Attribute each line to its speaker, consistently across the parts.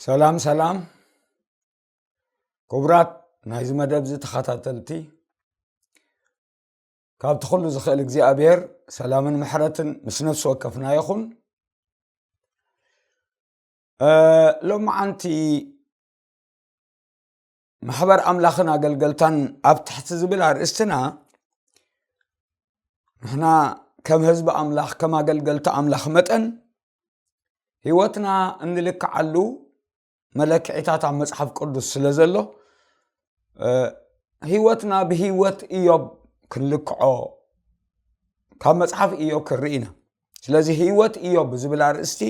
Speaker 1: ሰላም ሰላም ክቡራት ናይዚ መደብ እዚ ተኸታተልቲ ካብቲ ኩሉ ዝኽእል እግዚኣብሔር ሰላምን ምሕረትን ምስ ነፍሲ ወከፍና ይኹን ሎማዓንቲ ማሕበር ኣምላኽን ኣገልገልታን ኣብ ትሕቲ ዝብል ኣርእስትና ንሕና ከም ህዝቢ ኣምላኽ ከም ኣገልገልቲ ኣምላኽ መጠን ህይወትና እንልክዓሉ መለክዒታት ኣብ መፅሓፍ ቅዱስ ስለ ዘሎ ህይወትና ብህይወት እዮብ ክንልክዖ ካብ መፅሓፍ እዮ ክንርኢ ኢና ስለዚ ህይወት እዮ ብዝብል ኣርእስቲ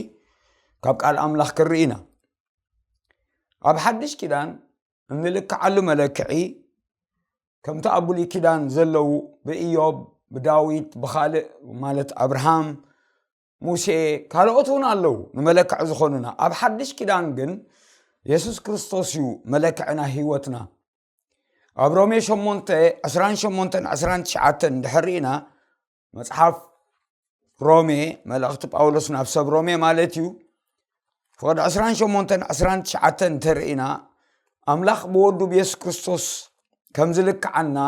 Speaker 1: ካብ ቃል ኣምላኽ ክንርኢ ኢና ኣብ ሓድሽ ኪዳን እንልክዓሉ መለክዒ ከምቲ ኣብ ብሉይ ኪዳን ዘለዉ ብእዮብ ብዳዊት ብካልእ ማለት ኣብርሃም ሙሴ ካልኦት እውን ኣለዉ ንመለክዒ ዝኾኑና ኣብ ሓድሽ ኪዳን ግን የሱስ ክርስቶስ እዩ መለክዕና ህይወትና ኣብ ሮሜ 8 28 29 ድሕሪእና መፅሓፍ ሮሜ መልእኽቲ ጳውሎስ ናብ ሰብ ሮሜ ማለት እዩ ፍቅዲ 28 29 እንተርእና ኣምላኽ ብወዱ ብየሱስ ክርስቶስ ከም ዝልክዓና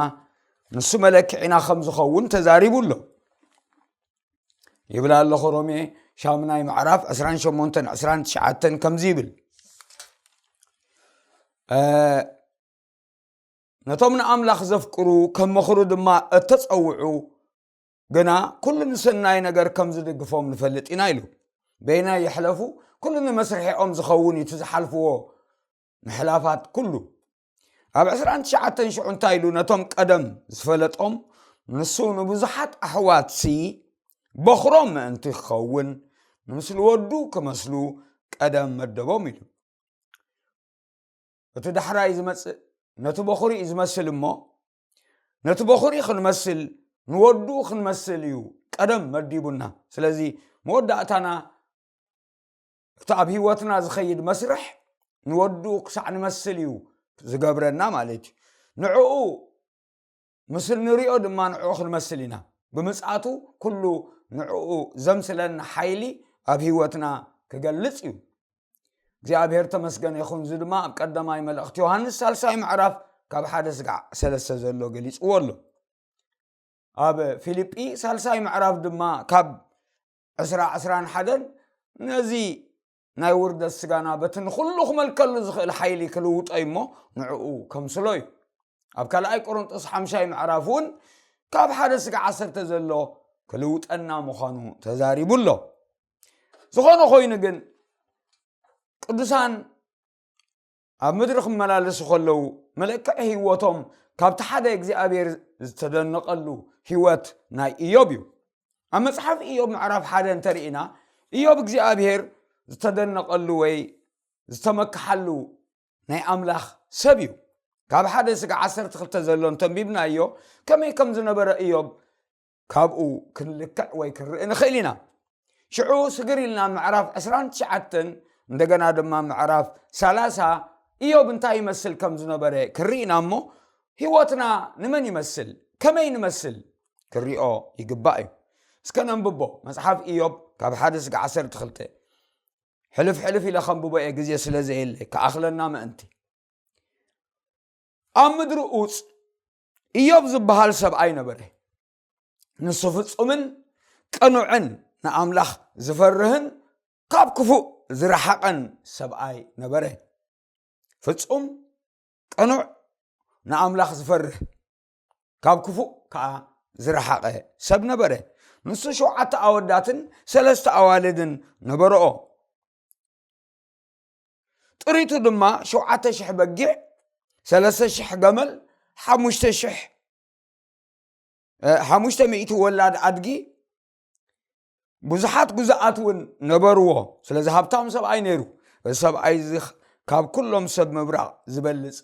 Speaker 1: ንሱ መለክዒና ከም ዝኸውን ተዛሪቡ ኣሎ ይብል ኣለኹ ሮሜ ሻሙናይ ምዕራፍ 28 29 ከምዚ ይብል ነቶም ንኣምላኽ ዘፍቅሩ ከም ምኽሩ ድማ እተፀውዑ ግና ኩሉ ንሰናይ ነገር ከም ዝድግፎም ንፈልጥ ኢና ኢሉ በይናይ ይሕለፉ ኩሉ ንመስርሒኦም ዝኸውን እቲ ዝሓልፍዎ ምሕላፋት ኩሉ ኣብ ዕስራን ትሽዓተን ሽዑ እንታይ ኢሉ ነቶም ቀደም ዝፈለጦም ንሱ ንብዙሓት ኣሕዋትሲ በኽሮም ምእንቲ ክኸውን ንምስሊ ወዱ ክመስሉ ቀደም መደቦም ኢሉ እቲ ዳሕራይ ዝመፅእ ነቲ በኹሪ እዩ ዝመስል እሞ ነቲ በኹሪ ክንመስል ንወዱ ክንመስል እዩ ቀደም መዲቡና ስለዚ መወዳእታና እቲ ኣብ ህይወትና ዝኸይድ መስርሕ ንወዱ ክሳዕ ንመስል እዩ ዝገብረና ማለት እዩ ንዕኡ ምስ እንሪኦ ድማ ንዕኡ ክንመስል ኢና ብምፅኣቱ ኩሉ ንዕኡ ዘምስለና ሓይሊ ኣብ ህይወትና ክገልፅ እዩ እግዚኣብሔር ተመስገነ ይኹን እዚ ድማ ኣብ ቀዳማይ መልእኽቲ ዮሃንስ ሳልሳይ ምዕራፍ ካብ ሓደ ስጋዕ ሰለስተ ዘሎ ገሊፅዎ ኣሎ ኣብ ፊልጲ ሳልሳይ ምዕራፍ ድማ ካብ ዕስራ ዕስራን ሓደን ነዚ ናይ ውርደት ስጋና በቲ ንዅሉ ክመልከሉ ዝኽእል ሓይሊ ክልውጦ እዩ እሞ ንዕኡ ከምስሎ እዩ ኣብ ካልኣይ ቆሮንጦስ ሓምሻይ ምዕራፍ እውን ካብ ሓደ ስጋ ዓሰርተ ዘሎ ክልውጠና ምዃኑ ተዛሪቡ ኣሎ ዝኾነ ኮይኑ ግን ቅዱሳን ኣብ ምድሪ ክመላለሱ ከለዉ መለክዒ ህይወቶም ካብቲ ሓደ እግዚኣብሔር ዝተደነቐሉ ህይወት ናይ እዮብ እዩ ኣብ መጽሓፍ እዮብ ምዕራፍ ሓደ እንተርኢና እዮብ እግዚኣብሔር ዝተደነቐሉ ወይ ዝተመክሓሉ ናይ ኣምላኽ ሰብ እዩ ካብ ሓደ ስጋ ዓሰርተ ክልተ ዘሎ እንተንቢብናዮ ከመይ ከም ዝነበረ እዮብ ካብኡ ክንልክዕ ወይ ክንርኢ ንኽእል ኢና ሽዑ ስግር ኢልና ምዕራፍ 29 እንደገና ድማ ምዕራፍ 30 እዮብ እንታይ ይመስል ከም ዝነበረ ክንርኢና እሞ ህይወትና ንመን ይመስል ከመይ ንመስል ክንሪኦ ይግባእ እዩ እስከ ነንብቦ መፅሓፍ እዮብ ካብ ሓደ ስጋ ዓሰርተ ክልተ ሕልፍ ሕልፍ ኢለ ከንብቦ እየ ግዜ ስለ ዘየለ ክኣኽለና ምእንቲ ኣብ ምድሪ ኡፅ እዮብ ዝበሃል ሰብኣይ ነበረ ንሱ ፍጹምን ቅኑዕን ንኣምላኽ ዝፈርህን ካብ ክፉእ ዝረሓቐን ሰብኣይ ነበረ ፍጹም ቅኑዕ ንኣምላኽ ዝፈርህ ካብ ክፉእ ከዓ ዝረሓቐ ሰብ ነበረ ንሱ ሸውዓተ ኣወዳትን ሰለስተ ኣዋልድን ነበረኦ ጥሪቱ ድማ ሸውዓተ ሽሕ በጊዕ ሰለስተ ሽሕ ገመል ሓሙሽተ ሽሕ ሓሙሽተ ሚእቲ ወላድ ኣድጊ ብዙሓት ጉዛኣት እውን ነበርዎ ስለዚ ሃብታም ሰብኣይ ነይሩ እዚ ሰብኣይ እዚ ካብ ኩሎም ሰብ ምብራቕ ዝበልፅ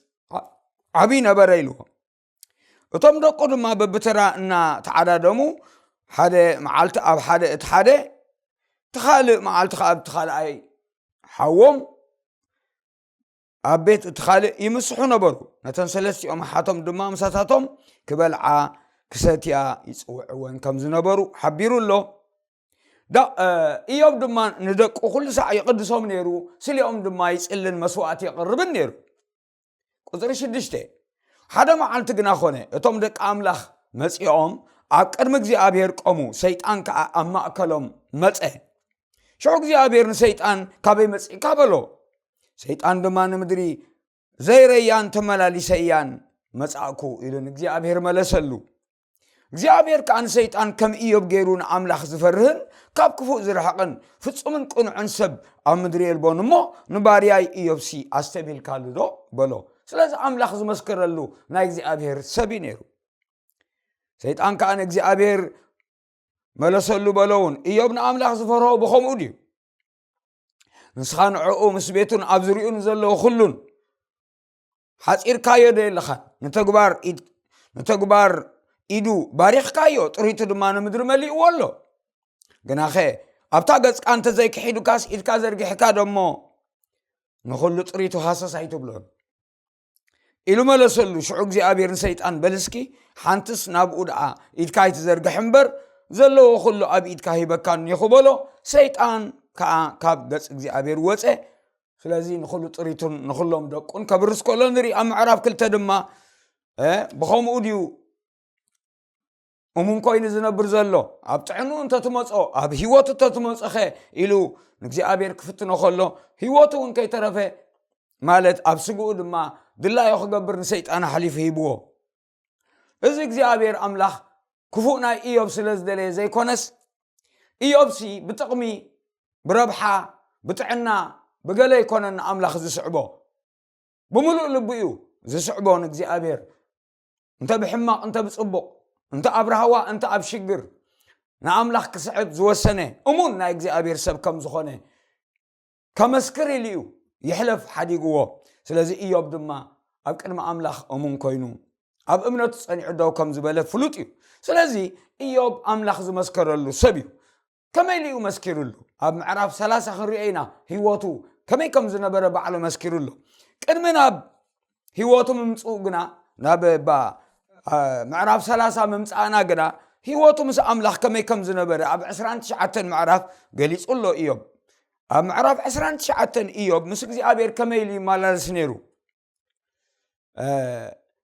Speaker 1: ዓብይ ነበረ ኢልዎ እቶም ደቁ ድማ በብተራ እናተዓዳደሙ ሓደ መዓልቲ ኣብ ሓደ እቲ ሓደ እቲ ካልእ መዓልቲ ከዓ ኣብቲ ካልኣይ ሓዎም ኣብ ቤት እቲ ካልእ ይምስሑ ነበሩ ነተን ሰለስቲኦም ሓቶም ድማ ምሳታቶም ክበልዓ ክሰትያ ይፅውዕወን ከም ዝነበሩ ሓቢሩ ኣሎ እዮብ ድማ ንደቁ ኩሉ ሳዕ ይቕድሶም ነይሩ ስሊኦም ድማ ይፅልን መስዋእቲ የቕርብን ነይሩ ቁፅሪ ሽዱሽተ ሓደ መዓልቲ ግና ኮነ እቶም ደቂ ኣምላኽ መፂኦም ኣብ ቅድሚ እግዚኣብሔር ቆሙ ሰይጣን ከዓ ኣብ ማእከሎም መፀ ሽዑ እግዚኣብሔር ንሰይጣን ካበይ መፅእካ በሎ ሰይጣን ድማ ንምድሪ ዘይረያን ተመላሊሰ እያን መፃእኩ ኢሉ ንእግዚኣብሔር መለሰሉ እግዚኣብሔር ከዓ ንሰይጣን ከም እዮብ ገይሩ ንኣምላኽ ዝፈርህን ካብ ክፉእ ዝረሕቕን ፍጹምን ቅኑዕን ሰብ ኣብ ምድሪ የልቦን እሞ ንባርያይ እዮብሲ ኣስተብሂልካሉ ዶ በሎ ስለዚ ኣምላኽ ዝመስከረሉ ናይ እግዚኣብሔር ሰብ እዩ ነይሩ ሰይጣን ከዓ ንእግዚኣብሔር መለሰሉ በሎ እውን እዮብ ንኣምላኽ ዝፈርሆ ብኸምኡ ድዩ ንስኻ ንዕኡ ምስ ቤቱን ኣብ ዝርኡ ንዘለዎ ኩሉን ሓጺርካዮ ዶ የለኻን? ንተግባር ኢድ ንተግባር ኢዱ ባሪኽካዮ፣ ጥሪቱ ድማ ንምድሪ መሊእዎ ኣሎ። ግናኸ ኣብታ ገጽካ እንተ ዘይክሒዱካስ ኢድካ ዘርጊሕካ ዶሞ ንዅሉ ጥሪቱ ሃሰስ ኣይትብሎን። ኢሉ መለሰሉ ሽዑ እግዚኣብሔር ንሰይጣን በልስኪ ሓንትስ ናብኡ ደኣ ኢድካ ኣይትዘርግሕ እምበር ዘለዎ ኩሉ ኣብ ኢድካ ሂበካ እኒኹ በሎ ሰይጣን ከዓ ካብ ገጽ እግዚኣብሔር ወፀ ስለዚ ንኹሉ ጥሪቱን ንኹሎም ደቁን ከብርስ ከሎ ንርኢ ኣብ ምዕራፍ ክልተ ድማ ብኸምኡ ድዩ እሙን ኮይኑ ዝነብር ዘሎ ኣብ ጥዕኑ እንተትመፆ ኣብ ሂወቱ እንተትመፆኸ ኢሉ ንእግዚኣብሔር ክፍትኖ ከሎ ሂወቱ እውን ከይተረፈ ማለት ኣብ ስግኡ ድማ ድላዮ ክገብር ንሰይጣን ኣሕሊፉ ሂብዎ እዚ እግዚኣብሔር ኣምላኽ ክፉእ ናይ እዮብ ስለ ዝደለየ ዘይኮነስ እዮብሲ ብጥቕሚ ብረብሓ ብጥዕና ብገለ ይኮነ ንኣምላኽ ዝስዕቦ ብምሉእ ልቢ እዩ ዝስዕቦ ንእግዚኣብሔር እንተ ብሕማቕ እንተ ብፅቡቕ እንተ ኣብ ራህዋ እንተ ኣብ ሽግር ንኣምላኽ ክስዕብ ዝወሰነ እሙን ናይ እግዚኣብሔር ሰብ ከም ዝኾነ ከመስክር ኢሉ እዩ ይሕለፍ ሓዲግዎ ስለዚ እዮብ ድማ ኣብ ቅድሚ ኣምላኽ እሙን ኮይኑ ኣብ እምነቱ ጸኒዑ ደው ከም ዝበለ ፍሉጥ እዩ ስለዚ እዮብ ኣምላኽ ዝመስከረሉ ሰብ እዩ ከመይ ኢሉ እዩ መስኪሩሉ ኣብ ምዕራፍ 3 ክንሪኦ ኢና ህይወቱ ከመይ ከም ዝነበረ ባዕሉ መስኪሩሉ ቅድሚ ናብ ህይወቱ ምምፅኡ ግና ናብ እባ ምዕራፍ ሰላሳ ምምፃእና ግና ህይወቱ ምስ ኣምላኽ ከመይ ከም ዝነበረ ኣብ ዕስራን ትሽዓተን ምዕራፍ ገሊጹ ኣሎ እዮብ ኣብ ምዕራፍ ዕስራን ትሽዓተን እዮብ ምስ እግዚኣብሔር ከመይ ኢሉ ይመላለስ ነይሩ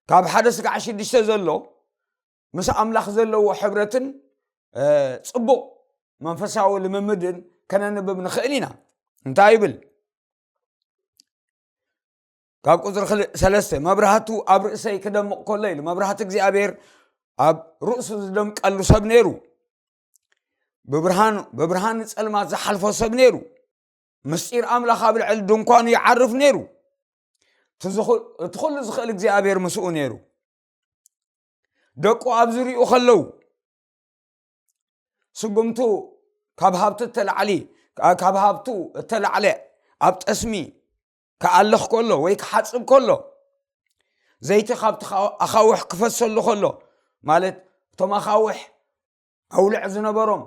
Speaker 1: ካብ ሓደ ስጋዕ ሽዱሽተ ዘሎ ምስ ኣምላኽ ዘለዎ ሕብረትን ፅቡቕ መንፈሳዊ ልምምድን ከነንብብ ንኽእል ኢና እንታይ ይብል ካብ ቁፅሪ ክልእ ሰለስተ መብራህቱ ኣብ ርእሰይ ክደምቕ ከሎ ኢሉ መብራህቲ እግዚኣብሔር ኣብ ርእሱ ዝደምቀሉ ሰብ ነይሩ ብብርሃኑ ብብርሃን ፀልማት ዝሓልፎ ሰብ ነይሩ ምስጢር ኣምላኽ ኣብ ልዕሊ ድንኳኑ ይዓርፍ ነይሩ እቲ ኩሉ ዝኽእል እግዚኣብሔር ምስኡ ነይሩ ደቁ ኣብ ዝርኡ ከለዉ ስጉምቱ ካብ ሃብቲ እተላዕሊ ካብ ሃብቱ እተላዕለ ኣብ ጠስሚ ክኣልኽ ከሎ ወይ ክሓፅብ ከሎ ዘይቲ ካብቲ ኣኻውሕ ክፈሰሉ ከሎ ማለት እቶም ኣኻውሕ ኣውልዕ ዝነበሮም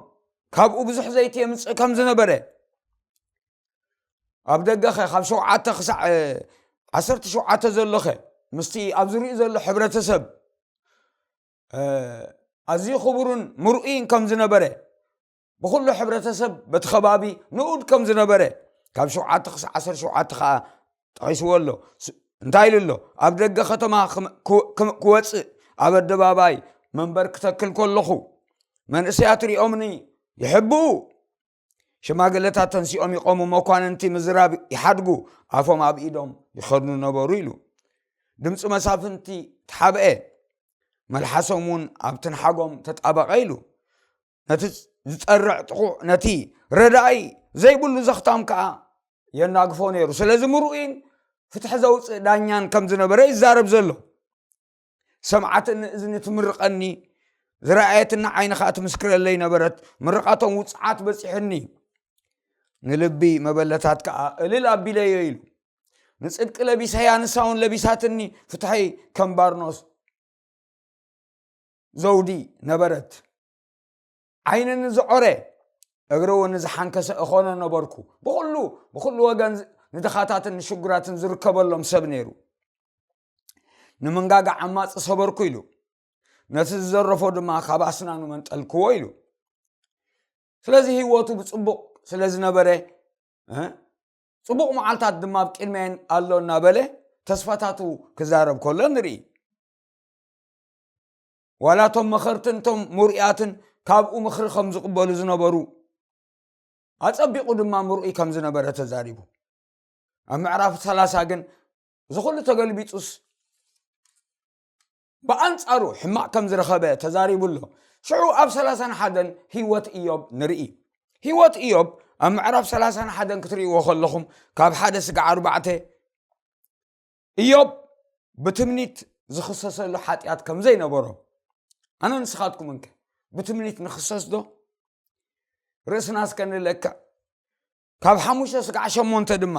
Speaker 1: ካብኡ ብዙሕ ዘይቲ የምፅእ ከም ዝነበረ ኣብ ደገኸ ካብ ሸውዓተ ክሳዕ ዓሰርተ ሸውዓተ ዘሎኸ ምስቲ ኣብ ዝርኡ ዘሎ ሕብረተሰብ ኣዝዩ ክቡርን ምርኡይን ከም ዝነበረ ብዅሉ ሕብረተሰብ በቲ ኸባቢ ንኡድ ከም ዝነበረ ካብ ሸውዓተ ክሳዕ ዓሰርተ ሸውዓተ ከዓ ጠቒስዎ ኣሎ እንታይ ኢሉ ኣሎ ኣብ ደገ ከተማ ክወፅእ ኣብ ኣደባባይ መንበር ክተክል ከለኹ መንእሰያት ሪኦምኒ ይሕብኡ ሽማግለታት ተንሲኦም ይቆሙ መኳንንቲ ምዝራብ ይሓድጉ ኣፎም ኣብ ኢዶም ይኸድኑ ነበሩ ኢሉ ድምፂ መሳፍንቲ ተሓብአ መልሓሶም እውን ኣብ ትንሓጎም ተጣበቐ ኢሉ ነቲ ዝፀርዕ ጥቑዕ ነቲ ረዳኢ ዘይብሉ ዘኽታም ከዓ የናግፎ ነይሩ ስለዚ ምርኡይን ፍትሒ ዘውፅእ ዳኛን ከም ዝነበረ ይዛረብ ዘሎ ሰምዓት ንእዝኒ ትምርቐኒ ዝረኣየትና ዓይኒ ከዓ ትምስክረለይ ነበረት ምርቃቶም ውፅዓት በፂሑኒ ንልቢ መበለታት ከዓ እልል ኣቢለዮ ኢሉ ንፅድቂ ለቢሰያ ንሳውን ለቢሳትኒ ፍትሐይ ከም ባርኖስ ዘውዲ ነበረት ዓይኒ ንዝዖረ እግሪ እውን ንዝሓንከሰ እኾኖ ነበርኩ ብኩሉ ብኩሉ ወገን ንድኻታትን ንሽጉራትን ዝርከበሎም ሰብ ነይሩ ንምንጋጋ ዓማፅ ሰበርኩ ኢሉ ነቲ ዝዘረፎ ድማ ካብ ኣስናኑ መንጠልክዎ ኢሉ ስለዚ ህይወቱ ብፅቡቅ ስለ ዝነበረ ፅቡቅ መዓልታት ድማ ኣብ ቅድመን ኣሎ እናበለ ተስፋታቱ ክዛረብ ከሎ ንርኢ ዋላ እቶም መኸርትን እቶም ምርኡያትን ካብኡ ምኽሪ ከም ዝቕበሉ ዝነበሩ ኣጸቢቑ ድማ ምርኡይ ከም ዝነበረ ተዛሪቡ ኣብ ምዕራፍ ሰላሳ ግን እዚ ኩሉ ተገልቢጡስ ብኣንጻሩ ሕማቕ ከም ዝረኸበ ተዛሪቡ ኣሎ ሽዑ ኣብ ሰላሳን ሓደን ህይወት እዮብ ንርኢ ህይወት እዮብ ኣብ ምዕራፍ ሰላሳን ሓደን ክትርእይዎ ከለኹም ካብ ሓደ ስጋ ዓርባዕተ እዮብ ብትምኒት ዝኽሰሰሉ ሓጢኣት ከም ዘይነበሮ ኣነ ንስኻትኩምን ከ ብትምኒት ንኽሰስ ዶ ርእስና እስከ ንለክዕ ካብ ሓሙሽተ ስጋዕ ሸሞንተ ድማ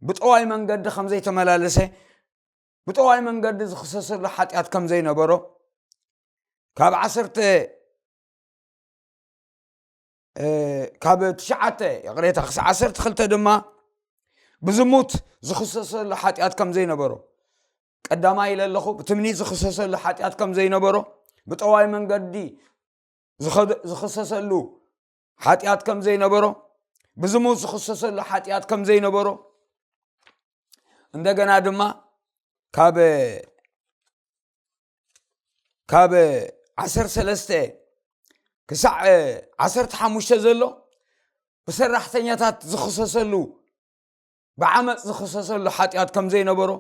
Speaker 1: ብጠዋይ መንገዲ ከም ዘይተመላለሰ ብጠዋይ መንገዲ ዝኽሰሰሉ ሓጢኣት ከም ዘይነበሮ ካብ ዓሰርተ ካብ ትሽዓተ ይቕሬታ ክሳዕ ዓሰርተ ክልተ ድማ ብዝሙት ዝኽሰሰሉ ሓጢኣት ከም ዘይነበሮ ቀዳማይ ኢለ ኣለኹ ብትምኒት ዝኽሰሰሉ ሓጢኣት ከም ዘይነበሮ ብጠዋይ መንገዲ ዝኽሰሰሉ ሓጢኣት ከም ዘይነበሮ ብዝሙት ዝኽሰሰሉ ሓጢኣት ከም ዘይነበሮ እንደገና ድማ ካብ ካብ ዓሰርተ ሰለስተ ክሳዕ ዓሰርተ ሓሙሽተ ዘሎ ብሰራሕተኛታት ዝኽሰሰሉ ብዓመፅ ዝኽሰሰሉ ሓጢኣት ከም ዘይነበሮ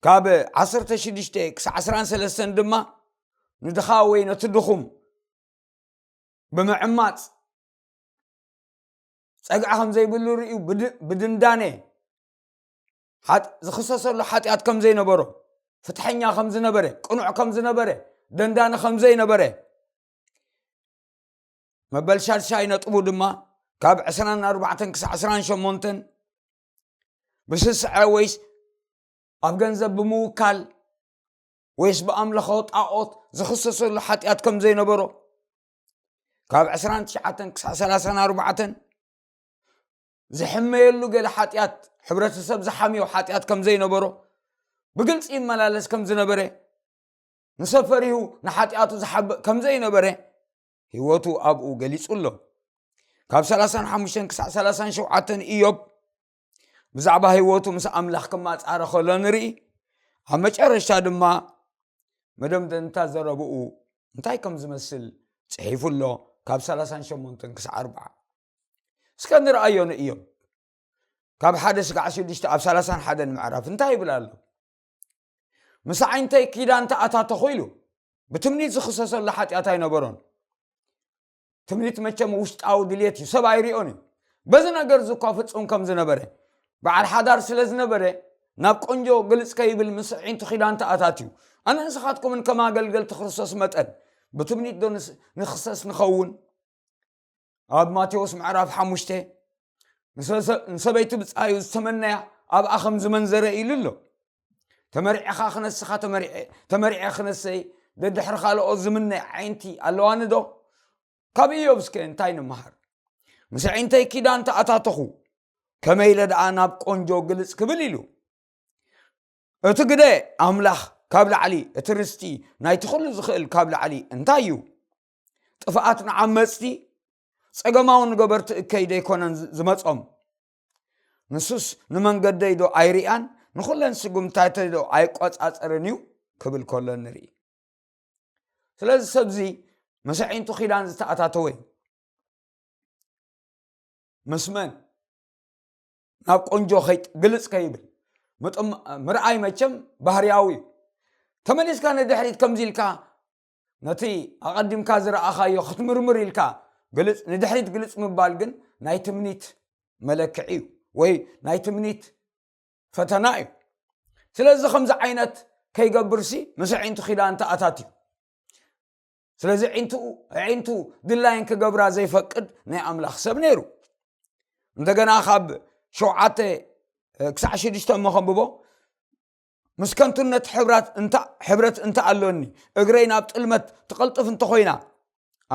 Speaker 1: ካብ ዓሰርተ ሽዱሽተ ክሳዕ ዓስራን ሰለስተን ድማ ንድኻ ወይ ነቲ ድኹም ብምዕማፅ ፀግዒ ከም ዘይብሉ ርእዩ ብድንዳነ ዝኽሰሰሉ ሓጢኣት ከም ዘይነበሮ፣ ፍትሐኛ ከም ዝነበረ፣ ቅኑዕ ከም ዝነበረ፣ ደንዳኒ ከም ዘይነበረ መበል ሻድሻይ ነጥቡ ድማ ካብ 24 ክሳዕ 28 ብስስዐ ወይስ ኣብ ገንዘብ ብምውካል ወይስ ብኣምለኸ ጣዖት ዝኽሰሰሉ ሓጢኣት ከም ዘይነበሮ ካብ 29 ክሳዕ 34 ዝሕመየሉ ገለ ሓጢኣት ሕብረተሰብ ዝሓምዮ ሓጢኣት ከም ዘይነበሮ ብግልፂ ይመላለስ ከም ዝነበረ ንሰብ ፈሪሁ ንሓጢኣቱ ዝሓብእ ከም ዘይነበረ ህይወቱ ኣብኡ ገሊጹ ኣሎ ካብ 35 ክሳዕ 37 እዮብ ብዛዕባ ህይወቱ ምስ ኣምላኽ ክማፃረ ከሎ ንርኢ ኣብ መጨረሻ ድማ መደምደንታ ዘረብኡ እንታይ ከም ዝመስል ፅሒፉ ኣሎ ካብ 38 ክሳዕ 4 እስከ ንርኣዮ ንእዮብ ካብ ሓደ ስጋዕ ሽዱሽተ ኣብ ሰላሳን ሓደን ምዕራፍ እንታይ ይብል ኣሎ ምስ ዓይንተይ ኪዳን ተኣታተኹ ኢሉ ብትምኒት ዝኽሰሰሉ ሓጢኣት ኣይነበሮን ትምኒት መቸም ውሽጣዊ ድልት እዩ ሰብ ኣይርኦን እዩ በዚ ነገር ዝኳ ፍፁም ከም ዝነበረ በዓል ሓዳር ስለ ዝነበረ ናብ ቆንጆ ግልፅ ከይብል ምስ ዒንቱ ኪዳን ተኣታት እዩ ኣነ ንስኻትኩምን ከም ኣገልገልቲ ክርስቶስ መጠን ብትምኒት ዶ ንክሰስ ንኸውን ኣብ ማቴዎስ ምዕራፍ ሓሙሽተ ንሰበይቲ ብፃዩ ዝተመነያ ኣብኣ ከም ዝመንዘረ ኢሉ ኣሎ ተመሪዕኻ ክነስኻ ተመሪዐ ክነሰይ ደድሕሪ ካልኦት ዝምነ ዓይንቲ ኣለዋኒ ዶ ካብ እዮብ እስከ እንታይ ንመሃር ምስ ዓይንተይ ኪዳን ተኣታተኹ ከመይ ኢለ ደኣ ናብ ቆንጆ ግልፅ ክብል ኢሉ እቲ ግደ ኣምላኽ ካብ ላዕሊ እቲ ርስቲ ናይቲ ኩሉ ዝኽእል ካብ ላዕሊ እንታይ እዩ ጥፍኣት ንዓመፅቲ ፀገማዊ ንገበርቲ እከይ ደይኮነን ዝመፆም ንሱስ ንመንገደይ ዶ ኣይርያን ንኹለን ስጉምታተይ ዶ ኣይቆፃፀርን እዩ ክብል ከሎ ንርኢ ስለዚ ሰብዚ መሰዒንቱ ኪዳን ዝተኣታተወ እዩ ምስ መን ናብ ቆንጆ ግልፅ ከይብል ምርኣይ መቸም ባህርያዊ እዩ ተመሊስካ ንድሕሪት ከምዚ ኢልካ ነቲ ኣቐዲምካ ዝረኣኻዮ ክትምርምር ኢልካ ግልጽ ንድሕሪት ግልጽ ምባል ግን ናይ ትምኒት መለክዒ እዩ ወይ ናይ ትምኒት ፈተና እዩ ስለዚ ከምዚ ዓይነት ከይገብርሲ ምስ ኣዒንቱ ኪዳን ተኣታት እዩ ስለዚ ዒንትኡ ዒንቱ ድላይን ክገብራ ዘይፈቅድ ናይ ኣምላኽ ሰብ ነይሩ እንደገና ካብ ሸውዓተ ክሳዕ ሽዱሽተ መኸንብቦ ምስ ከንቱነት ሕብረት እንተ ኣሎኒ እግረይ ናብ ጥልመት ትቐልጥፍ እንተኾይና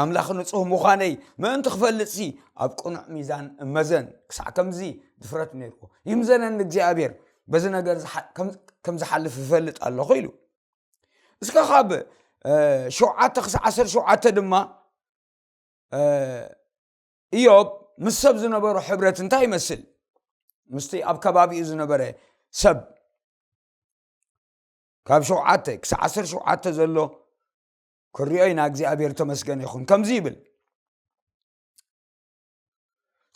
Speaker 1: ኣምላኽ ንጹህ ምዃነይ ምእንቲ ክፈልጥ ሲ ኣብ ቅኑዕ ሚዛን እመዘን ክሳዕ ከምዚ ድፍረት ነይርዎ ይምዘነን እግዚኣብሔር በዚ ነገር ከም ዝሓልፍ ይፈልጥ ኣለኹ ኢሉ እስከ ካብ ሸውዓተ ክሳዕ ዓሰርተ ሸውዓተ ድማ እዮብ ምስ ሰብ ዝነበሮ ሕብረት እንታይ ይመስል? ምስቲ ኣብ ከባቢኡ ዝነበረ ሰብ ካብ ሸውዓተ ክሳብ ዓሰር ሸውዓተ ዘሎ ክሪኦ ኢና እግዚኣብሔር ተመስገነ ይኹን ከምዚ ይብል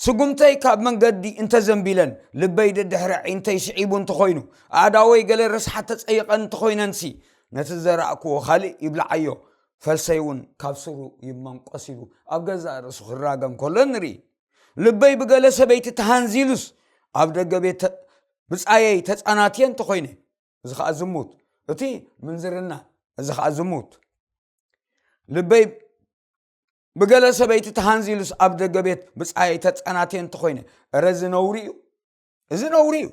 Speaker 1: ስጉምተይ ካብ መንገዲ እንተዘንቢለን ልበይ ደድሕሪ ዒንተይ ስዒቡ እንተኾይኑ ኣእዳወይ ገለ ረስሓት ተፀይቐን እንተኾይነንሲ ነቲ ዘራእክዎ ካልእ ይብላዓዮ ፈልሰይ እውን ካብ ሱሩ ይመንቆስ ኢሉ ኣብ ገዛእ ርእሱ ክራገም ከሎ ንርኢ ልበይ ብገለ ሰበይቲ ተሃንዚሉስ ኣብ ደገ ቤት ብፃየይ ተፃናትየ እንተኮይነ እዚ ከዓ ዝሙት እቲ ምንዝርና እዚ ከዓ ዝሙት ልበይ ብገለ ሰበይቲ ተሃንዚሉስ ኣብ ደገ ቤት ብፃየይ ተፃናትየ እንተኮይነ እረዚ ነውሪ እዩ እዚ ነውሪ እዩ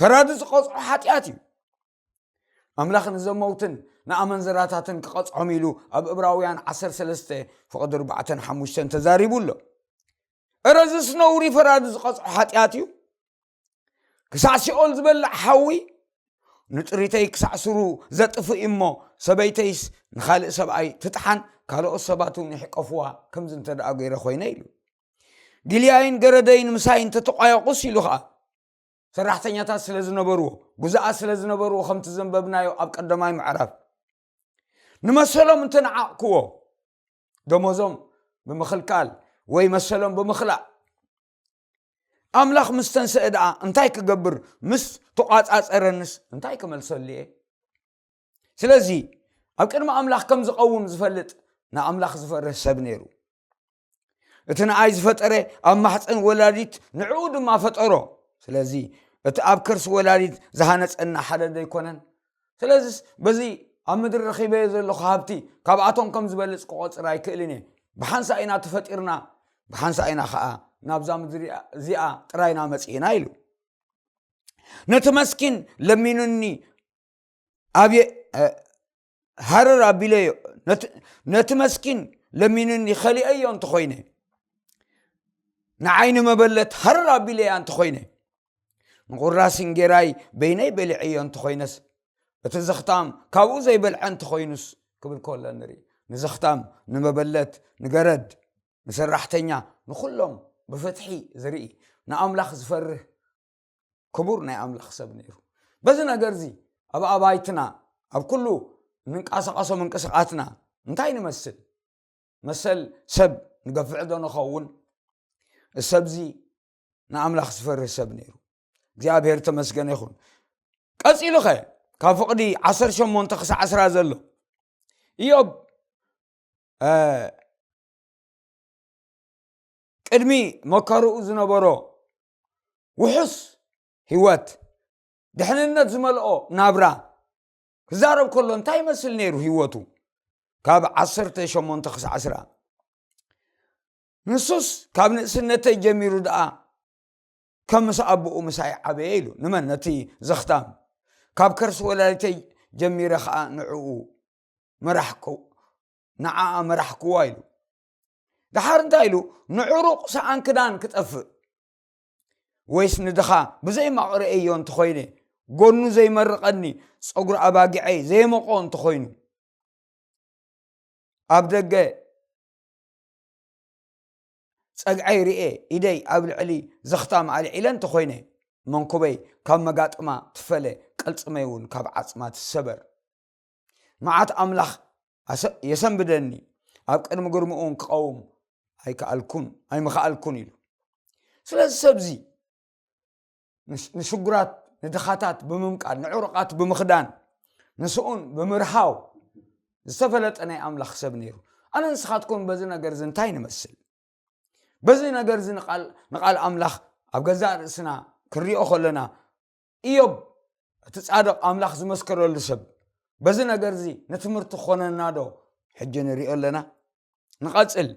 Speaker 1: ፈራዲ ዝቐፅዖ ሓጢኣት እዩ ኣምላኽ ንዘመውትን ንኣመንዘራታትን ክቐፅዖም ኢሉ ኣብ እብራውያን 13 ፍቐዲ 45 ተዛሪቡ ኣሎ እረዝስ ነውሪ ፈራዲ ዝቐፅዖ ሓጢኣት እዩ ክሳዕ ሲኦል ዝበልዕ ሓዊ ንጥሪተይ ክሳዕ ስሩ ዘጥፍእ እሞ ሰበይተይስ ንካልእ ሰብኣይ ትጥሓን ካልኦት ሰባት እውን ይሕቀፍዋ ከምዚ እንተደኣ ገይረ ኮይነ ኢሉ ጊልያይን ገረደይን ምሳይ እንተተቋየቑስ ኢሉ ኸዓ ሰራሕተኛታት ስለ ዝነበርዎ ጉዛኣት ስለ ዝነበርዎ ከምቲ ዘንበብናዮ ኣብ ቀዳማይ ምዕራፍ ንመሰሎም እንተነዓቕክዎ ደሞዞም ብምኽልካል ወይ መሰሎም ብምኽላእ ኣምላኽ ምስ ተንስአ ደኣ እንታይ ክገብር ምስ ተቋፃፀረንስ እንታይ ክመልሰሉ እየ ስለዚ ኣብ ቅድሚ ኣምላኽ ከም ዝቐውም ዝፈልጥ ንኣምላኽ ዝፈርህ ሰብ ነይሩ እቲ ንኣይ ዝፈጠረ ኣብ ማሕፀን ወላዲት ንዕኡ ድማ ፈጠሮ ስለዚ እቲ ኣብ ከርሲ ወላዲት ዝሃነፀና ሓደ ዶ ኣይኮነን ስለዚ በዚ ኣብ ምድሪ ረኺበዮ ዘለኹ ሃብቲ ካብኣቶም ከም ዝበልፅ ክቆፅር ኣይክእልን እየ ብሓንሳ ኢና ተፈጢርና ብሓንሳ ኢና ከዓ ናብዛ ምድሪ እዚኣ ጥራይና መፅእና ኢሉ ነቲ መስኪን ለሚኑኒ ኣብየ ሃረር ኣቢለዮ ነቲ መስኪን ለሚኑኒ ኸሊአዮ እንተኾይነ ንዓይኒ መበለት ሃረር ኣቢለያ እንተኾይነ ንቑራሲ እንጌራይ በይነይ በሊዐዮ እንተኾይነስ እቲ ዘኽታም ካብኡ ዘይበልዐ እንተኾይኑስ ክብል ከሎ ንርኢ ንዘኽታም ንመበለት ንገረድ ንሰራሕተኛ ንኹሎም ብፍትሒ ዝርኢ ንኣምላኽ ዝፈርህ ክቡር ናይ ኣምላኽ ሰብ ነይሩ በዚ ነገር እዚ ኣብ ኣባይትና ኣብ ኩሉ እንንቀሳቐሶ ምንቅስቓትና እንታይ ንመስል መሰል ሰብ ንገፍዕ ዶ ንኸውን እሰብዚ ንኣምላኽ ዝፈርህ ሰብ ነይሩ እግዚኣብሄር ተመስገነ ይኹን ቀፂሉ ኸ ካብ ፍቕዲ 18 ክሳዕ 1ስራ ዘሎ እዮብ ቅድሚ መከርኡ ዝነበሮ ውሑስ ህይወት ድሕንነት ዝመልኦ ናብራ ክዛረብ ከሎ እንታይ ይመስል ነይሩ ህይወቱ ካብ ዓሰርተ ሸሞንተ ክሳዕ ዕስራ ንሱስ ካብ ንእስነተይ ጀሚሩ ደኣ ከም ምስ ኣቦኡ ምሳይ ዓበየ ኢሉ ንመን ነቲ ዘኽታም ካብ ከርሲ ወላዲተይ ጀሚረ ከዓ ንዕኡ መራሕኩ ንዓኣ መራሕክዋ ኢሉ ደሓር እንታይ ኢሉ ንዕሩቕ ሰኣን ክዳን ክጠፍእ ወይስ ንድኻ ብዘይ ማቕረኤዮ እንተኾይነ ጎኑ ዘይመርቐኒ ፀጉሪ ኣባጊዐይ ዘይመቆ እንተኾይኑ ኣብ ደገ ፀግዐይ ርኤ ኢደይ ኣብ ልዕሊ ዘኽታም ኣልዒለ እንተኾይነ መንኩበይ ካብ መጋጥማ ትፈለ ቅልፅመይ እውን ካብ ዓፅማ ትሰበር መዓት ኣምላኽ የሰንብደኒ ኣብ ቅድሚ ግርምኡን ክቐውም ኣይከኣልኩን ኣይምኸኣልኩን ኢሉ ስለዚ ሰብዚ ንሽጉራት ንድኻታት ብምምቃል ንዕሩቓት ብምኽዳን ንስኡን ብምርሃው ዝተፈለጠ ናይ ኣምላኽ ሰብ ነይሩ ኣነ ንስኻትኩም በዚ ነገር እዚ እንታይ ንመስል በዚ ነገር እዚ ንቓል ኣምላኽ ኣብ ገዛእ ርእስና ክንሪኦ ከለና እዮብ እቲ ጻድቕ ኣምላኽ ዝመስከረሉ ሰብ በዚ ነገር እዚ ንትምህርቲ ክኾነና ዶ ሕጂ ንሪኦ ኣለና ንቐጽል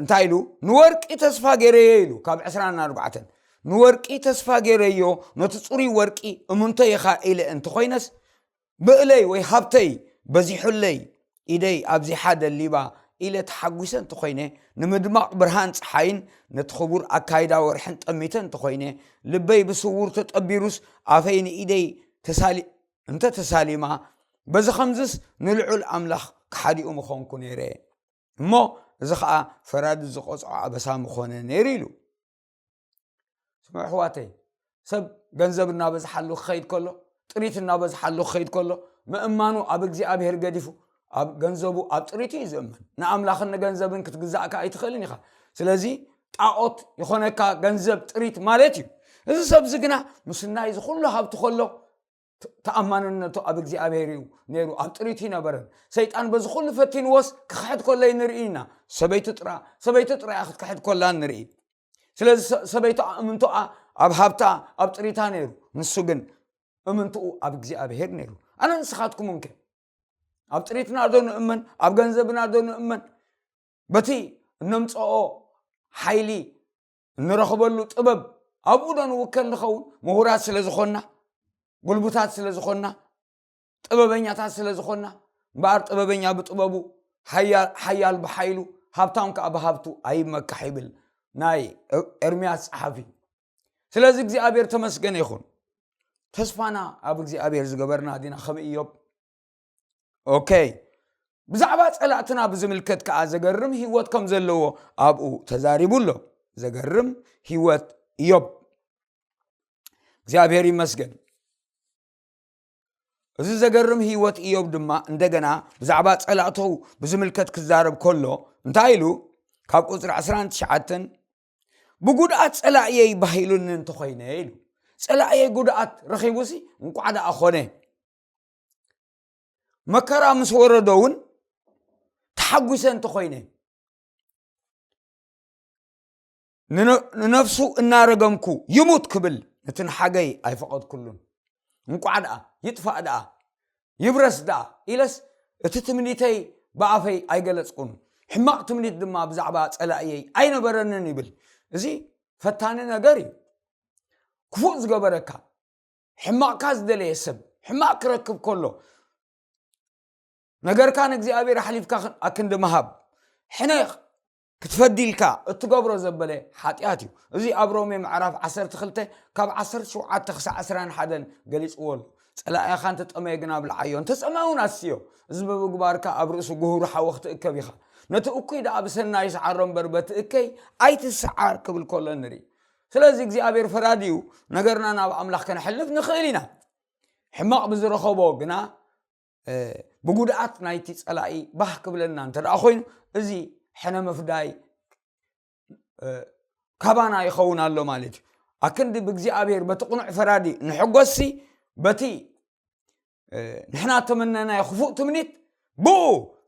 Speaker 1: እንታይ ኢሉ ንወርቂ ተስፋ ገይረዮ ኢሉ ካብ ዕስራን ኣርባዕተን ንወርቂ ተስፋ ገይረዮ ነቲ ፅሩይ ወርቂ እምንቶ ኢኻ ኢለ እንተኾይነስ ምእለይ ወይ ሃብተይ በዚሑለይ፣ ኢደይ ኣብዚሓ ደሊባ ኢለ ተሓጒሰ እንተኾይነ፣ ንምድማቕ ብርሃን ጸሓይን ነቲ ክቡር ኣካይዳ ወርሕን ጠሚተ እንተኾይነ፣ ልበይ ብስዉር ተጠቢሩስ ኣፈይ ንኢደይ ተሳሊ እንተ ተሳሊማ፣ በዚ ኸምዝስ ንልዑል ኣምላኽ ከሓዲኡ ምኾንኩ ነይረ እሞ፣ እዚ ኸኣ ፈራዲ ዝቐጽዖ ኣበሳ ምኾነ ነይሩ ኢሉ። ስምዑ ኣሕዋተይ ሰብ ገንዘብ እናበዝሓሉ ክኸይድ ከሎ ጥሪት እናበዝሓሉ ክኸይድ ከሎ ምእማኑ ኣብ እግዚኣብሄር ገዲፉ ኣብ ገንዘቡ ኣብ ጥሪት እዩ ዝእመን ንኣምላኽን ንገንዘብን ክትግዛእካ ኣይትኽእልን ኢኻ ስለዚ ጣዖት ይኾነካ ገንዘብ ጥሪት ማለት እዩ እዚ ሰብዚ ግና ምስናይ ዝኩሉ ሃብቲ ከሎ ተኣማንነቱ ኣብ እግዚኣብሔር እዩ ነይሩ ኣብ ጥሪት ይነበረን ሰይጣን በዚ ኩሉ ፈቲንዎስ ክክሕድ ኮለይ ንርኢ ኢና ሰበይቱ ጥራ ሰበይቱ ጥራያ ክትክሕድ ኮላ ንርኢ ስለዚ ሰበይቱ እምንቶኣ ኣብ ሃብታ ኣብ ጥሪታ ነይሩ ንሱ ግን እምንትኡ ኣብ እግዚኣብሔር ነይሩ ኣነ ንስኻትኩም እንከ ኣብ ጥሪትና ዶ ንእመን ኣብ ገንዘብና ዶ ንእመን በቲ እነምፀኦ ሓይሊ እንረኽበሉ ጥበብ ኣብኡ ዶ ንውከል ንኸውን ምሁራት ስለ ዝኾንና ጉልቡታት ስለ ዝኾንና ጥበበኛታት ስለ ዝኾንና እምበኣር ጥበበኛ ብጥበቡ ሓያል ብሓይሉ ሃብታም ከዓ ብሃብቱ ኣይመካሕ ይብል ናይ ኤርምያስ ፀሓፊ ስለዚ እግዚኣብሔር ተመስገነ ይኹን ተስፋና ኣብ እግዚኣብሔር ዝገበርና ዲና ከም እዮብ ኦከይ ብዛዕባ ፀላእትና ብዝምልከት ከዓ ዘገርም ህይወት ከም ዘለዎ ኣብኡ ተዛሪቡ ኣሎ ዘገርም ህይወት እዮብ እግዚኣብሔር ይመስገን እዚ ዘገርም ህይወት እዮብ ድማ እንደገና ብዛዕባ ፀላእተው ብዝምልከት ክዛረብ ከሎ እንታይ ኢሉ ካብ ቁፅሪ 19 ብጉድኣት ፀላእየይ ባሂሉኒ እንተኮይነ ኢሉ ፀላእየይ ጉድኣት ረኪቡሲ እንቋዕ ደኣ ኮነ መከራ ምስ ወረዶ እውን ተሓጒሰ እንተኾይነ ንነፍሱ እናረገምኩ ይሙት ክብል ነቲ ንሓገይ ኣይፈቐድኩሉን እንቋዕ ደኣ ይጥፋእ ደኣ ይብረስ ደኣ ኢለስ እቲ ትምኒተይ ብኣፈይ ኣይገለፅኩን ሕማቕ ትምኒት ድማ ብዛዕባ ፀላእየይ ኣይነበረንን ይብል እዚ ፈታኒ ነገር እዩ ክፉእ ዝገበረካ ሕማቕካ ዝደለየ ሰብ ሕማቕ ክረክብ ከሎ ነገርካ ንእግዚኣብሔር ኣሕሊፍካ ኣክንዲ ምሃብ ሕነ ክትፈዲልካ እትገብሮ ዘበለ ሓጢኣት እዩ እዚ ኣብ ሮሜ ምዕራፍ 12 ካብ 17 ክሳዕ 21 ገሊፅዎ ኣሎ ፀላእኻ እንተጠመየ ግን ኣብ ልዓዮ እንተፀመ እውን ኣስዮ እዚ ብምግባርካ ኣብ ርእሱ ጉህሩ ሓወ ክትእከብ ኢኻ ነቲ እኩይ ደኣ ብሰናይ ስዓሮ እምበር በቲ እከይ ኣይትስዓር ክብል ከሎ ንርኢ ስለዚ እግዚኣብሔር ፈራዲዩ ነገርና ናብ ኣምላኽ ከነሕልፍ ንኽእል ኢና ሕማቕ ብዝረኸቦ ግና ብጉድኣት ናይቲ ፀላኢ ባህ ክብለና እንተ ኮይኑ እዚ ሕነ ምፍዳይ ካባና ይኸውን ኣሎ ማለት እዩ ኣክንዲ ብእግዚኣብሔር በቲ ቕኑዕ ፈራዲ ንሕጎሲ በቲ ንሕና ተመነናዮ ክፉእ ትምኒት ብኡ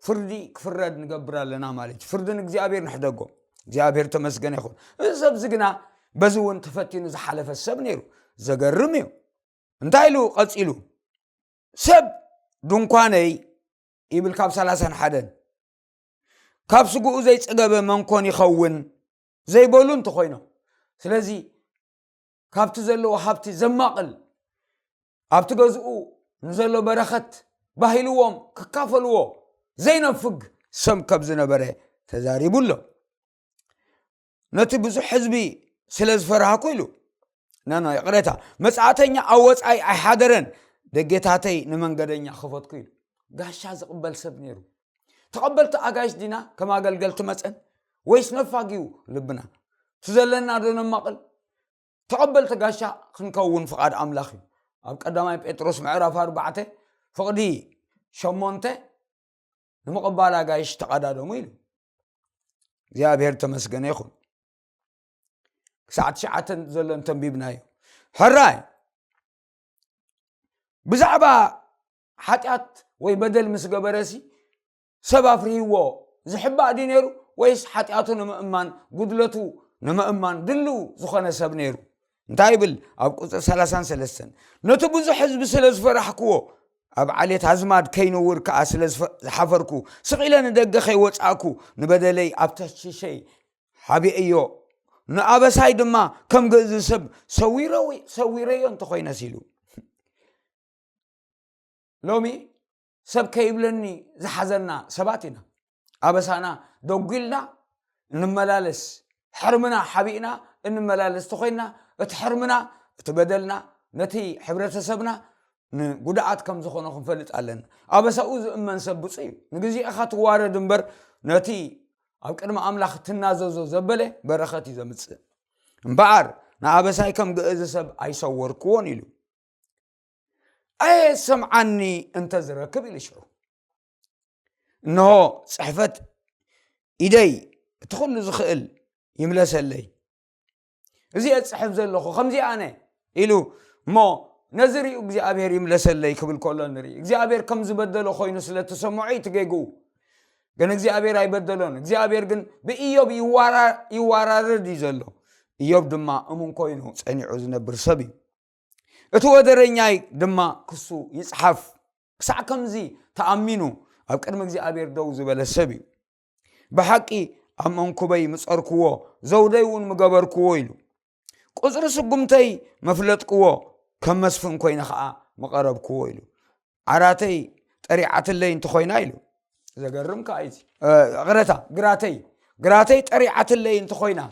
Speaker 1: ፍርዲ ክፍረድ ንገብር ኣለና ማለት እዩ ፍርዲ ንእግዚኣብሔር ንሕደጎ እግዚኣብሔር ተመስገነ ይኹን እዚ ሰብዚ ግና በዚ እውን ተፈቲኑ ዝሓለፈ ሰብ ነይሩ ዘገርም እዩ እንታይ ኢሉ ቀፂሉ ሰብ ድንኳነይ ይብል ካብ ሰላሳን ሓደን ካብ ስጉኡ ዘይፀገበ መንኮን ይኸውን ዘይበሉ እንተኮይኖም ስለዚ ካብቲ ዘለዎ ሃብቲ ዘማቕል ኣብቲ ገዝኡ ንዘሎ በረኸት ባሂልዎም ክካፈልዎ ዘይነፍግ ሰብ ከም ዝነበረ ተዛሪቡ ኣሎ ነቲ ብዙሕ ህዝቢ ስለ ዝፈራህኩ ኢሉ ናና ይቕረታ መፅእተኛ ኣብ ወፃኢ ኣይሓደረን ደጌታተይ ንመንገደኛ ክፈትኩ ኢሉ ጋሻ ዝቕበል ሰብ ነይሩ ተቐበልቲ ኣጋይሽ ዲና ከም ኣገልገልቲ መፀን ወይስ ነፋግ እዩ ልብና እቲ ዘለና ዶ ነማቕል ተቐበልቲ ጋሻ ክንከውን ፍቓድ ኣምላኽ እዩ ኣብ ቀዳማይ ጴጥሮስ ምዕራፍ ኣርባዕተ ፍቕዲ ሸሞንተ ንምቕባል ኣጋይሽ ተቐዳደሙ ኢሉ እግዚኣብሔር ተመስገነ ይኹን ክሳዕ ትሽዓተ ዘሎ እንተንቢብና እዩ ሕራይ ብዛዕባ ሓጢኣት ወይ በደል ምስ ገበረሲ ሰብ ኣፍርህዎ ዝሕባእ ድዩ ነይሩ ወይስ ሓጢኣቱ ንምእማን ጉድለቱ ንምእማን ድልው ዝኾነ ሰብ ነይሩ እንታይ ይብል ኣብ ቁፅሪ 33 ነቲ ብዙሕ ህዝቢ ስለ ዝፈራሕክዎ ኣብ ዓሌት ኣዝማድ ከይነውር ከዓ ስለ ዝሓፈርኩ ስቂለ ንደገ ከይወፃእኩ ንበደለይ ኣብ ተሽሸይ ሓቢአዮ ንኣበሳይ ድማ ከም ግእዝ ሰብ ሰዊረዮ እንተኮይነስ ኢሉ ሎሚ ሰብ ከይብለኒ ዝሓዘና ሰባት ኢና ኣበሳና ደጒልና እንመላለስ ሕርምና ሓቢእና እንመላለስ ተኮይንና እቲ ሕርምና እቲ በደልና ነቲ ሕብረተሰብና ንጉድኣት ከም ዝኾነ ክንፈልጥ ኣለና ኣበሳኡ ዝእመን ሰብ ብፁ እዩ ንግዜ ኢኻ ትዋረድ እምበር ነቲ ኣብ ቅድሚ ኣምላኽ ትናዘዞ ዘበለ በረኸት እዩ ዘምፅእ እምበኣር ንኣበሳይ ከም ግእዝ ሰብ ኣይሰወርክዎን ኢሉ ኣየሰምዓኒ እንተ ዝረክብ ኢሉ ሽዑ እንሆ ፅሕፈት ኢደይ እቲ ኩሉ ዝኽእል ይምለሰለይ እዚ ፅሕፍ ዘለኹ ከምዚ ኣነ ኢሉ እሞ ነዚ ርዩ እግዚኣብሔር ይምለሰለይ ክብል ከሎ ንርኢ እግዚኣብሔር ከም ዝበደሎ ኮይኑ ስለተሰምዖ እዩ ትገግኡ ግን እግዚኣብሔር ኣይበደሎን እግዚኣብሔር ግን ብእዮብ ይዋራርድ እዩ ዘሎ እዮብ ድማ እሙን ኮይኑ ፀኒዑ ዝነብር ሰብ እዩ እቲ ወደረኛይ ድማ ክሱ ይጽሓፍ ክሳዕ ከምዚ ተኣሚኑ ኣብ ቅድሚ እግዚኣብሔር ደው ዝበለ ሰብ እዩ ብሓቂ ኣብ መንኩበይ ምጸርክዎ ዘውደይ እውን ምገበርክዎ ኢሉ ቁፅሪ ስጉምተይ መፍለጥክዎ ከም መስፍን ኮይነ ከዓ መቐረብክዎ ኢሉ ዓራተይ ጠሪዓትለይ እንተኾይና ኢሉ ዘገርም ከዓ እዩ ቅረታ ግራተይ ግራተይ ጠሪዓትለይ እንተኾይና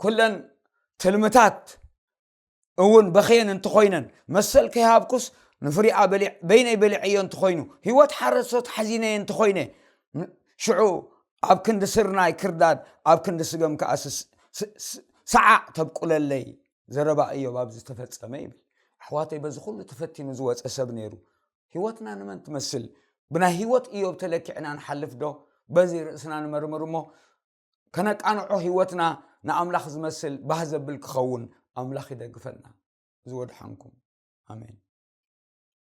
Speaker 1: ኩለን ትልምታት እውን በኸየን እንተኾይነን መሰል ከይሃብኩስ ንፍሪኣ በይነይ በሊዐዮ እንተኾይኑ ህይወት ሓረሶት ሓዚነየ እንተኾይነ ሽዑ ኣብ ክንዲ ስርናይ ክርዳድ ኣብ ክንዲ ስገም ከዓ ሰዓዕ ተብቁለለይ ዘረባ እዮብ ኣብዚ ተፈጸመ ይብል ኣሕዋተይ በዚ ኩሉ ተፈቲኑ ዝወፀ ሰብ ነይሩ ህይወትና ንመን ትመስል ብናይ ህይወት እዮብ ተለኪዕና ንሓልፍ ዶ በዚ ርእስና ንመርምር እሞ ከነቃንዖ ህይወትና ንኣምላኽ ዝመስል ባህ ዘብል ክኸውን ኣምላኽ ይደግፈና ዝወድሓንኩም ኣሜን